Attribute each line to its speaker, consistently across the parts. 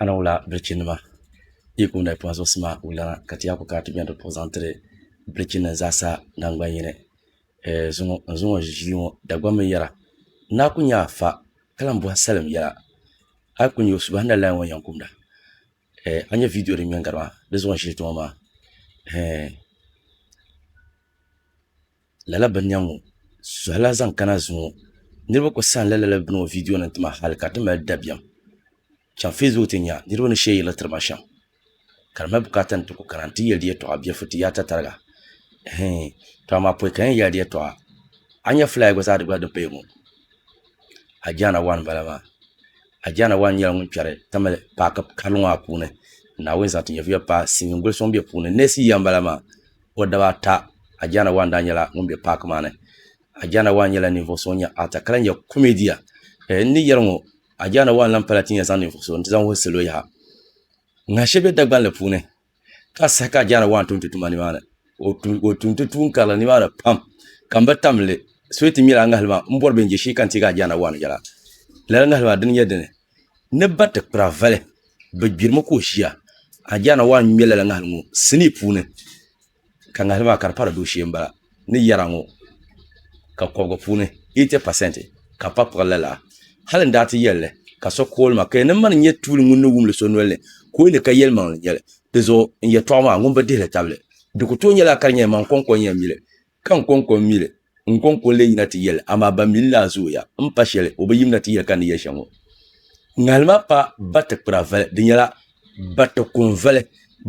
Speaker 1: Ana wula bilichi nima yi kum na pɔna zuɣusi maa wulana ka ti yaa ku kana ti bɛni di puhi zaŋ tiri bilichi nim zaasa nangban yini eh, zuŋɔ n zuŋɔ ʒili ŋɔ Dagbaŋ mi yɛra n daa ku nya a fa ka lan bɔhi salim yɛla a yi ku nya o subahi na laya ŋɔ yɛn kumda eh, a nya viidiyo din ŋmɛn gari maa di zuɣu n ʒili ti ŋɔ maa eh. lala bini nya ŋɔ suhila zaŋ kana zuŋɔ niriba kuli sanila lala bini ŋɔ vidiyo nima tima hali ka di ti mali dabiɛm chaŋ fesbuku ti nya niriba ni sheeri yelli tiriba shem ka di mali bukaata ni ti kuli kana n ti yeli di yeltɔɣa bɛ furiti yaata tariga hii to amaa pɔi ka n yen yeli di yeltɔɣa a nya fulaawa gba zaa di gba din paya ŋɔ Ajaana wan m bala maa Ajaana wan nyɛla ŋun kperi tamale paaki karili ŋɔ maa puuni Naawuni zaŋ ti nyɛviya pa Silimiin goli so ŋun be puuni neesi yiya m bala maa. o daba ata Adjana One daa nyɛla ŋun be paaki maa ni. Adjana One nyɛla ninvuɣu so ŋun nyɛ actor ka lahi nyɛ comedian. Eh, n ni yɛli ŋɔ, Adjana One lahi pala ti ni yɛn zaŋ ninvuɣu so n-ti zaŋ wuhi salo yaha. Ŋa shɛli be Dagbanli puuni ka saha ka Adjana One tum ti tuma nimaani. O tum, o tum ti tuun karili nimaani pam ka m bi tam li. Soyi ti ŋmɛri a ŋahili maa m-bɔri bɛ ni je shee ka n teegi Adjana One yɛla. Lala ŋahili maa dini n-nyɛ dini? ni ba ti kpira vali bi gbirimi ka o ʒiya a ni yɛana waa n ŋmɛ lala ŋahili ŋo sinii puuni ka ŋahili maa ka di pari dooshee n bala ni yɛra ŋo ka kobigi puuni eiti pasent ka pa kpuɣi lala hali n daa ti yɛlli ka so kooli ma ka yɛli ni mani n nyɛ tuuli ŋun ni wumdi so nolini ka o yɛli ka yɛlimaŋ n nyɛli dizuɣu n yɛltɔɣa maa ŋun bi dihili tabili di ku tooi nyɛla ka di nyɛla maŋ koŋko n yɛn mili Ka n kɔŋko mi li, n kɔŋko lee yina ti yɛl li, amaa ban mi li maa zooya. M pa shɛli, o bi yimina ti yɛli ka n ni yɛli shɛli ŋɔ. Ŋahili maa pa batikpira vali, di nyɛla batikum vali,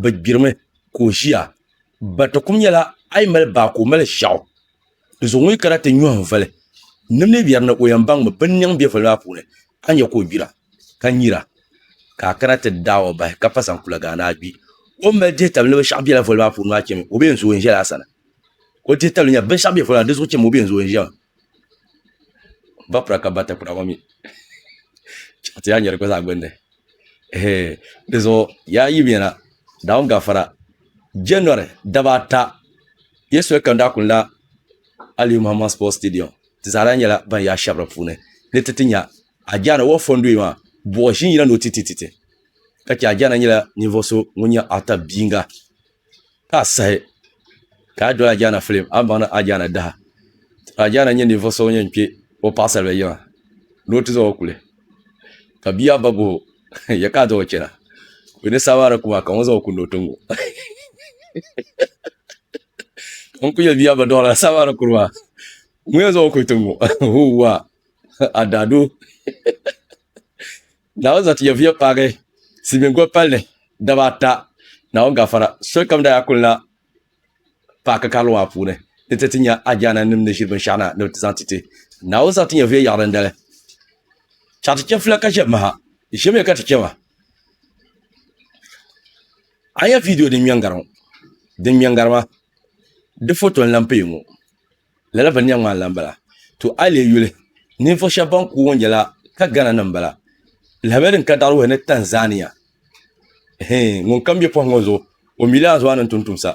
Speaker 1: bɛ gbirimi ka o ʒiya. Batikum nyɛla a yi mali baa ka o mali shɛɣu. Di zuɣu ŋun yi kana ti nyɔhi n vali, nim ni yɛri ni o yɛn baŋmi bɛ ni niŋ be vali maa puuni, a ni nya ka o gbira, ka nyira, ka a kana ti daai o bahi ka pa zaŋ kula gaani a gbi. O ni mali dihi tabili ni bɛ shɛɣu bela vali maa puuni maa chemi, o bee n zooi n-ʒɛla a sani. o dihi tabili nyɛla binshaɣu bɛ fɔra di zuɣu chɛmi o bɛ n zooi ʒiɛm ba pura ka ba ta kura ŋɔ mi chaɣa ti yaa nyɛ di gba zaa gbunni di zuɣu yaa yi yɛna daawuni gafara jɛnwari daba ata yɛ soli kam daa kuni la aliyu muhammad sport stadium ti zaa lahi nyɛla ban yaa shɛba di puuni ni ti ti nya ajaana wɔɣu fɔ n doya maa buɣi ʒini yina ni o ti ti ti ka chɛ ajaana nyɛla ninvuɣu so ŋun nyɛ Arthur Biinga ka a sahi ka a doli Ajaana filim a ni baŋ ni Ajaana daha ka Ajaana nyɛ ninvuɣu so ŋun yɛn kpɛ o paɣasaribili yiŋa ni o ti zaŋ o kuli ka bia maa ba guhi o yɛ ka a zaŋ o chɛna o ni saai maa di ku maa ka ŋun zaŋ o kuli ni o ti ŋo ka n ku yɛli bia maa ba dɔɣi lala saai maa ni kuri maa ŋun yɛn zaŋ o kuli ti ŋo huuwaa a daadoo Naawuni zaŋ ti Yɛvuya paagi silimiin goli palli daba ata, Naawuni gafara. Solikam daa kuli na paaki karili maa puuni ni ti ti nya ajaanannim ni ʒiri binshɛɣu na ni bɛ ti zaŋ ti ti. Naawuni zaŋ ti Yɛvuya yaɣirindali. Chaɣ ti chɛfila ka chɛ maha, ʒimiya ka ti chɛ ma. A nya viidiyo din ŋmɛŋgari ŋɔ, din ŋmɛŋgari ma di foto n-lan pee ŋɔ. Lala vani nya ŋmaani la m-bala. To a yi leei yuli, ninvuɣ shɛb bɛn ku ŋɔ nyɛla Kagana nim m-bala. Lahabali din ka daɣiri wuhi ni Tanzania. Hee, ŋun kam be pɔhim ŋɔ zuɣu, o mi leei Azua ni n-tum tumsa.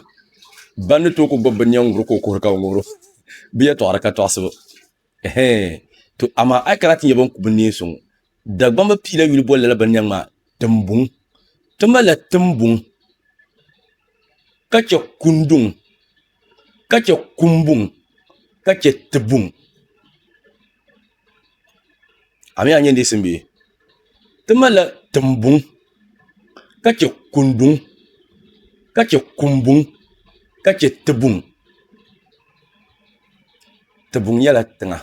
Speaker 1: Ban ni tooi ku gbibi binnɛm ŋubiri ka o kuhiri ka o ŋubiri o. Bɛ yɛtɔɣa di ka tɔɣisibu. Hee, to amaa a yi kana ti nya bɛn ku binneen so ŋɔ, Dagbamba piila yuli boli lala bini nyaŋ maa Timbuŋ. Ti malila Timbuŋ ka chɛ Kunduŋ ka chɛ Kumbuŋ ka chɛ Tibuŋ. A mi a nyɛ neesim bee? Ti malila Timbuŋ ka chɛ Kunduŋ ka chɛ Kumbuŋ ka chɛ Tibuŋ. Tibuŋ nyɛla tiŋa.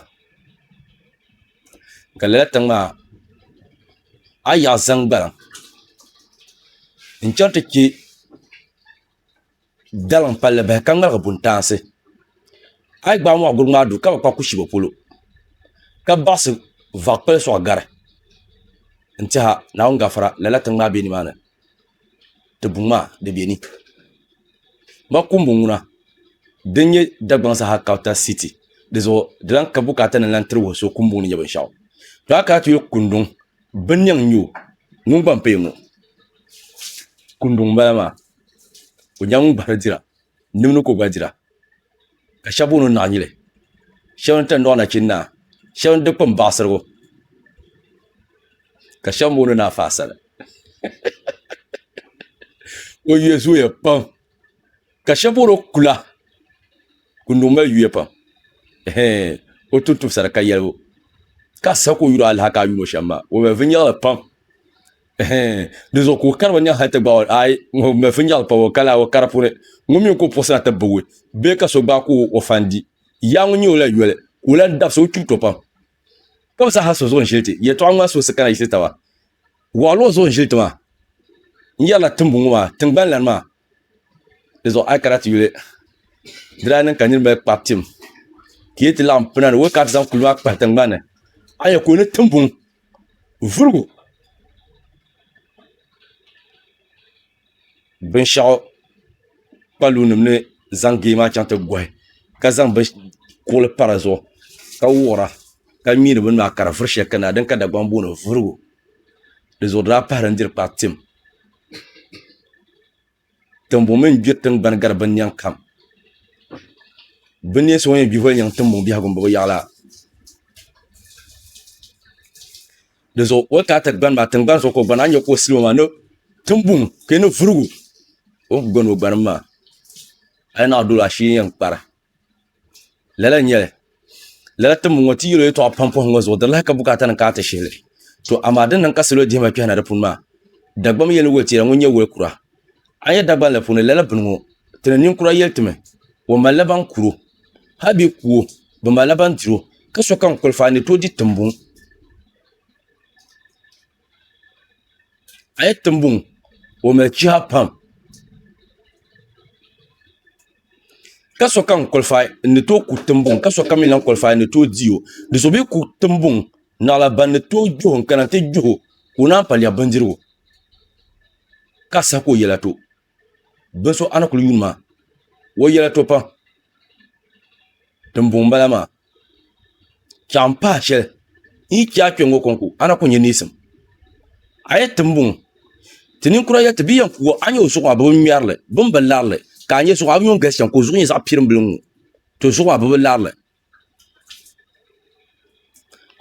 Speaker 1: ka lala tiŋ maa a yi yaɣa zaŋ gbana n chɛŋ ti chɛ dalim palli bahi ka ŋmaligi buntaansi a yi gbaai moɣa guri ŋmaa duu ka bi kpa kushɛba polo ka baɣasi vaɣa kpali soŋ gari n tiɛha naawuni gafara lala tiŋ maa bɛ nimaani di buŋ maa di bɛ ni makumbu ŋuna din nyɛ Dagbaŋ saha kapita siti di zuɣu di lahi ka bukaata ni n lahi tiri wuhi so kumbuni ni nyɛ binshaɣu to a kana ti yuli kunduŋ binniɛŋ n nyɛ o ŋun gba n paya ŋɔ kunduŋ n bala maa o nyɛla ŋun gbahari dira nimdi ka o gba dira ka shɛba booni o naɣinyili shɛba ni tandɔɣu nachin naa shɛba ni dukpuni baɣisirigu ka shɛba booni o ni afa asali o yuya zooya pam ka shɛba booni o kula Kunuŋ mali yuya pam ɛhɛɛ o tuhi tuhi sara ka yɛligu ka a siɣi ka o yuri alaha ka a yuuni o shɛm maa o mali viɛnyɛliŋli pam dizuɣu ka o kari binyɛri hali ti gbaai o ai ŋun mali finyɛri pa o kala o kari puuni ŋun mi ka o puɣisi na ti bibgi bee ka so gbaai ka o fan di yaa ŋun nyɛ o la yoli ka o lan dabsi o kpibu to pam ka bi saha so zuɣu n-ʒili ti yɛtɔɣa ŋmaa so si kana yisi taba waɣilo zuɣu n-ʒili ti maa n-yɛrila timbu ŋɔ maa tiŋgbani lani maa Di zuɣu a yi kana ti yuli di daa niŋ ka niriba mali kpari tim ka yi ti laɣim puna ni wali kana ti zaŋ kuli maa kpahi tingbani a nya ka o ni timbuŋ vurugu binshɛɣu kpaluunima ni zaŋ gee maa chaŋ ti gɔhi ka zaŋ kuɣili pa di zuɣu ka wuɣira ka ŋmɛri bini maa ka di vuri shɛli kani na din ka Dagbamb booni vurugu di zuɣu di daa pahila n-diri kpari tim Tiŋbuɣu mini gbiri tingbani gari binnɛŋ kam binnɛŋ so ŋun yɛn gbiholi nyaŋ tiŋbuɣu biɛhigu m-bɔbi yaɣila di zuɣu o ni kana ti gbani maa tiŋgbani zuɣu ka o gbani a ni nya ka o siligu maa tiŋbuŋ ka yi ni vurigu o ni kuli gani o gbanim maa hali naɣ' dolo ashili yi yɛn kpara lala nyɛli lala timbu ŋɔ ti yɛlo yɛtɔɣa pam pɔhim ŋɔ zuɣu di lahi ka bukaata nim ka ti shihili to amaa din niŋ ka salo dihima kpɛhina di puuni maa dagbam yɛli woli teera ŋun nyɛ woli kura a yɛ dagban la puuni lala bini ŋɔ ti ni ninkura yɛli timi o malila ban kuro hali bɛ kuwo bi malila ban diro ka sokam kɔlifaai ni tooi di tiŋbuŋ a yi tim buŋ o mali chiha pam ka sokam kulifaai n ni tooi ku tiŋbuŋ ka sokam mii lahi kulifaai n ni tooi di o ni so mii ku tiŋbuŋ naɣala ban ni tooi gbiho n kana ti gbiho ka o naan pa lɛbi bindirigu ka saha ka o yɛla to bin so a ni kuli yuun ma o yɛla to pam tiŋbuŋ bala maa piɛɣu n pahi shɛli n yi chɛ a kpɛ ŋɔ kɔŋko a na ku nyɛ neesim a yɛli tiŋbuŋ ti ninkura yɛli ti bɛ yɛn puuo a ni nyɛ o zuɣu maa bi bi ŋmɛrili bi ni bi larili ka a nyɛ zuɣu a bi nyo n galisi chɛŋ ka o zuɣu nyɛ zaɣ piɛrim bili n ŋɔ to zuɣu maa bi bi larili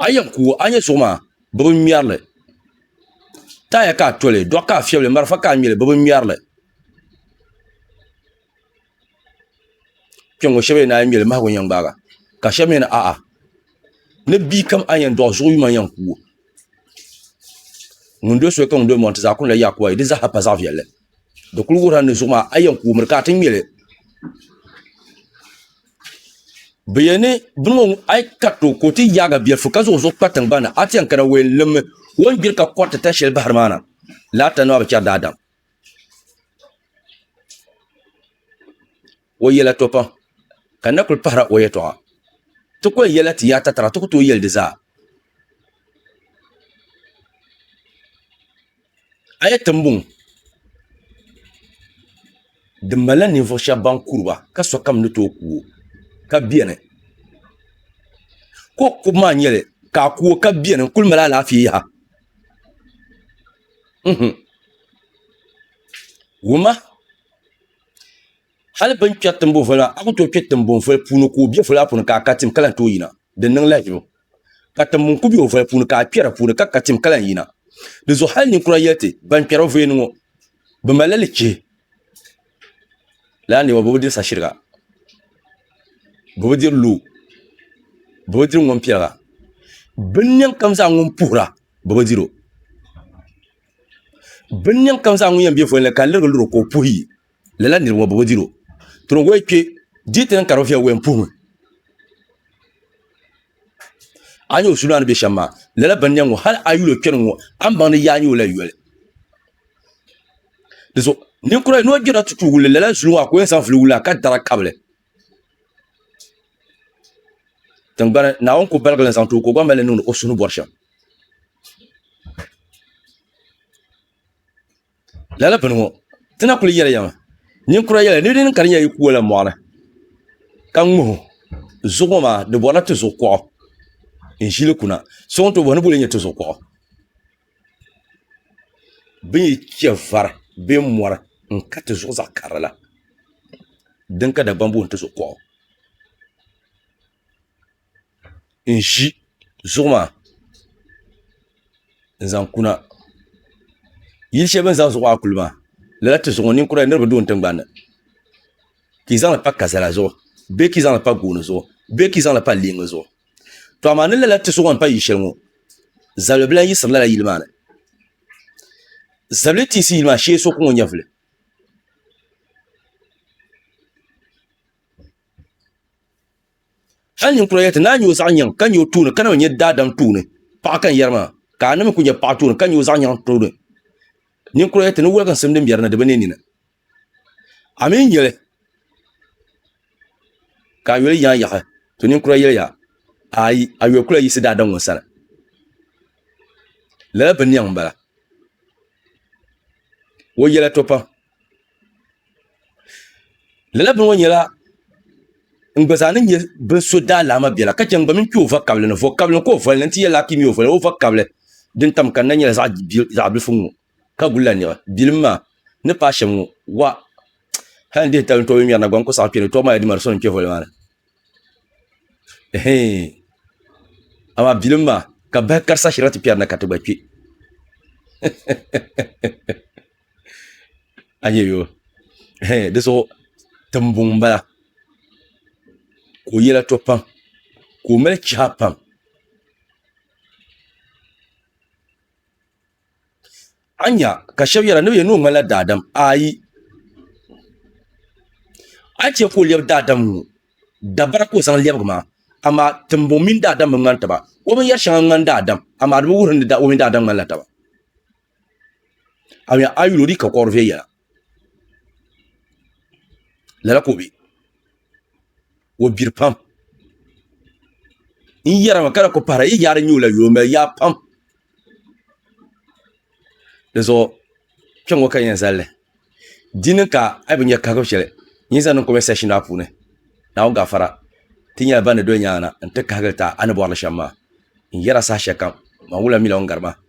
Speaker 1: a yɛn ku a ni nyɛ suɣu maa bi bi ŋmɛrili taaya ka a toli doɣu ka a fiɛbi li marafa ka a ŋmɛli bi bi ŋmɛrili kpɛŋŋo shab yɛli ni a yɛn ŋmɛli mahagu n yɛn gbaaga ka shab mii yɛli a'a ni bia kam a ni yɛn dɔɣi zuɣu yuma n yɛn kuwo ŋun doli soli ka ŋun doli mɔɣu n ti zaa kuni la Yakuwa yili di zaaha pa zaɣ viɛlli di kuli wuhurila ni zuɣu maa a yɛn koomli ka a ti ŋmɛli bi yɛn ni bini ŋɔ a yi kariti o ka o ti yaagi biɛlifu ka zaŋ o zuɣu kpa tingbanni a ti yɛn kana o yɛn limmi o ni gbiri ka koriti tani shɛli bahari maa na lala tandi maa bi chɛri daadam O yɛla to pam ka na kuli pahira o yɛtɔɣa. Ti kɔhi yɛla ti yaata tira ti ku tooi yɛli di zaa. A yɛ tiŋbuŋ di malila ninvuɣ shɛba ban kuri ba ka sokam ni tooi ku o ka beni. Ka o kubu maa nyɛli ka a ku o ka beni n-kuli mali alaafee yaha. Wuma Hali bɛ ni kpɛri timbunvoli maa, a ku tooi kpɛ timbunvoli puuni ka o be voli maa puuni ka a ka tim ka lahi tooi yina. Di niŋ lahiʒibu ka timbuni ku be o voli puuni ka a kpɛ di puuni ka ka tim ka lahi yina. Di zuɣu hali ninkura yɛli ti, Ban kpɛri o voli ni ŋɔ, bɛ malila lichihi. Lala niriba bɛ bi diri sashiriga, bɛ bi diri luu, bɛ bi diri ŋɔmpiɛliga. Binnɛŋ kam zaa ŋun puhira, bɛ bi dir o. bin niŋ kam zaa ŋun yɛn bɛ voli ni ka n lirigi liro ka o puhi yi lala niraba ŋo bi bi diro tuni woli kpɛ di ti niŋ ka di viɛli woli n puhimi a nyɛ o su maa ni bɛ shɛm maa lala bin niɛm ŋo hal a yuli o kpɛri ŋo a ni baŋ ni yaa nyɛ o la yoli dinzuɣu ninkura ni o gbirila tutu wulli lala zuli ŋo a ku yɛn zaŋ vuli wulla ka dara kabili Tingbani Naawuni ku baligili n zaŋ ti o ka o gba mali li niŋdi o suhu ni bɔri shɛm. Lala bini ŋɔ ti na kuli yɛli ya mi ninkura yɛla ni di niŋ ka di nyɛla yi ku wala mɔɣuni ka ŋmahi zuɣu ŋɔ maa di bɔrila tizuɣu kuɣu n ʒili kuna so ŋun tooi bahi ni boli o nyɛ tizuɣu kuɣu. bin yi chɛ vari bee mɔri n ka tizuɣu zaɣ karili la din ka Dagbaŋ booni tizuɣu kuɣu n ʒi zuɣu maa n zaŋ kuna yili shɛli bini zaŋ zuɣu maa kuli maa lala tizuɣu ŋɔ ninkura niraba du n tingbanni ka yi zaŋli pa kazala zuɣu bee ka yi zaŋli pa gooni zuɣu bee ka yi zaŋli pa leemi zuɣu to amaa ni lala ti suɣa n pa yili shɛli ŋɔ zabili bila n yiɣisiri lala yili maa ni zabili tiisi yili maa shee so ku ŋɔ nyɛvili hali ninkura yɛli ti ni a nyɛ o zaɣ yɛŋ ka nyɛ o tooni ka na bi nyɛ daadam tooni paɣa ka n yɛri maa ka a ni mi ku nyɛ paɣa tooni ka nyɛ o zaɣ yɛŋ tooni ninkura yɛli ti ni woliginsim din biɛri na di bi niɛ nini a mii nyɛli ka a nyɔli yaai yaɣi to ninkura yɛliya ayi a nyɔli kula yiɣisi daadam ŋɔ sani lala bi niɛŋ n bala o yɛla to pam lala bini ŋɔ nyɛla n gba zaa ni nyɛ bin so daalaama biɛla ka chɛ n gba mini kpɛ o va kabili ni vɔ kabili ni ka o vɔli ni n ti yɛli a ka i mi o vɔli o va kabili din tam kanna nyɛla zaɣ bilifu n ŋɔ Ka gulila niɣi bilim maa ni paai shɛm ŋɔ, wa! Hal n dihi tali n-tɔbi ŋmɛri na gba n-ku saɣi kpe ni tɔbu maa ya di mali so ni kpe voli maa ni. Ɛhɛin! Amaa bilim maa ka bahi karisa shirila ti kpɛri na ka ti gba kpe. A nya yo? Ɛhɛin, di zuɣu timbɔŋ m-bala ka o yɛla to pam ka o mali chiha pam. a nya ka shɛba yɛra ni bɛ yɛn ni o ŋmanila daadam ayi a yi chɛ ka o lɛbi daadam ŋɔ dabara ka o zaŋ lɛbigi maa amaa timbɔŋ mini daadam bi ŋmani taba o binyɛr shɛŋa ŋmani daadam amaa di bi wuhi ni o mini daadam ŋmanila taba a yuli o ni ka kɔɣiri viɛnyɛla lala ka o bɛ o gbiri pam n yɛra maa ka na ku pahara yi yaari nyuula yoo n mali yaa pam dizuɣu kpɛŋŋo ka n yɛn zalli di ni ka a yi bi nyɛ kahagibu shɛli n yi zaŋ niŋ kɔmɛnt sɛkshin maa puuni naawuni gafara ti nyɛla ban ni doli nyaangi na n ti kahagiri taha a ni bɔrili shɛm maa n yɛra saha shɛli kam maa wula miila ŋun gari ma